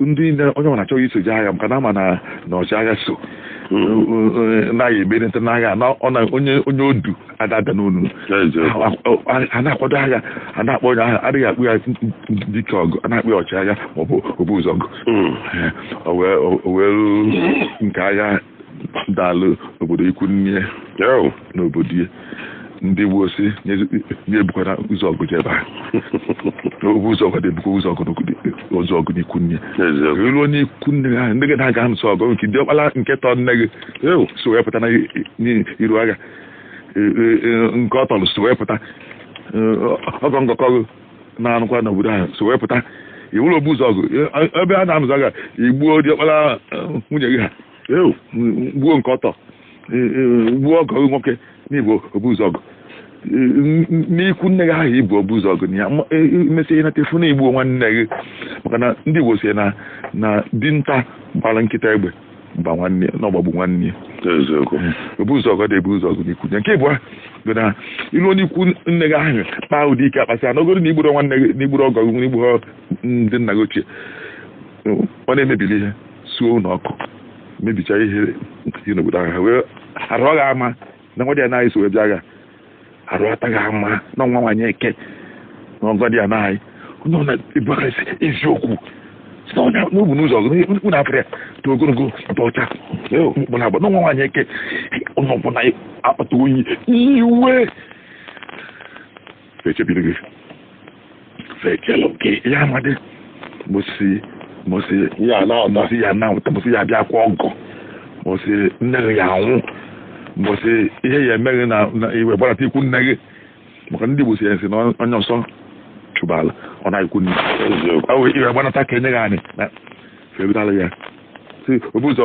ndị onye ọbụla achọghị iso je agha maka na ama na ọchịagha so hmm. naghị emerịta n'agha na onye onye odu adada n'ọnụ a na-akwado agha a na-akpọ onye agha adịghị akpọ ya dike ọgụ a na-akpọ ya ọchịagha maọbụ obu ụzọ ọgụ hmm. o nwee nke agha daalụ obodo ikwu nne n'obodo ya ndị Igbo sị ya ebukwana ụzọ ọgụ jebe obu ụzọ ọgụ ebukwa ụzọ ọgụ ụzọ ọgụ n'ikwu nne e luo na ikwu nne ha ndị gị na-aga anụso ọgụ nke diọkpara nke tọ nne gị so wee pụta n'iru agha e, e, e, nke ọ tọrọ so wee pụta ọgọ ngọkọ gị na-anụkwa n'obodo ahụ so wee pụta ị wụlụ obu ụzọ ọgụ ebe a na-anụzọ agha i gbuo diọkpara nwanne gị ahụ gbuo nke ọ tọ gbuo ọgọ gị nwoke na ị bụ obu ụzọ ọgụ n'ikwu nne gị ahụ ị bụ obu ụzọ ọgụ na ya i mesịa nata fụ na i gbuo nwanne gị maka na ndị Igbo sị na na dinta gbara nkịta egbe gba nwanne na ọ gbagbu nwanne ya eziokwu obu ụzọ ọgụ adị ebu ụzọ ọgụ n'ikwu nne nke ịbụa bụ na i luo na ikwu nne gị ahụ kpaa ụdị ike a kpasịa n'ogoro na i gburu nwanne gị na i gburu ọgọ gị na i gburu ndị nna gị ochie ọ na-emebili ihe suo ụlọ ọkụ mebicha ihe dị n'obodo ahụ ha wee arụ ọ ga-ama na nwadịana anyị so wee bịa agha arụ ataghị ama na nwa nwaanyị eke na nwadịana anyị onye ọ na-ebu aka isi eziokwu si na onye na obu ụzọ ọgụ n'ikwu na-apụrụ ya dị ogologo dị ọcha mkpụ na agba na nwa nwaanyị eke onye ọbụla akpata oyi iwe fechebiri gị fechelụ gị ya amadị mbọsị mbọsị ị ya anọta mbọsị ị ya anọta mbọsị ị ya abịa kwa ọgọ mbọsị nne gị ya anwụ mbọsị ihe ya eme gị na na i wee gbanata ikwu nne gị maka ndị Igbo sị ya asị na onye ọsọ chụbala ọ naa ikwu nne eziokwu ọ wee i wee gbanata ka e nye gị anyị na febitala ya si obu ụzọ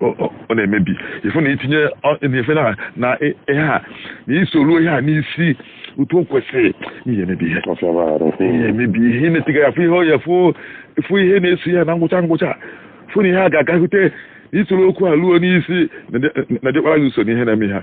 ọ na-emebi ị fụ na itinye na-efe na na ihe a na isoro ihe a n'isi otu o kwesịrị ihe emebi ihe ihe emebi ihe na-etiga ya fụ ihe ọ ya fụ ihe na-eso ya na ngwụcha ngwụcha fụ na ihe a ga-agahute isoro okwu a ruo n'isi na adịkwara gị ụsọ ihe na-eme ha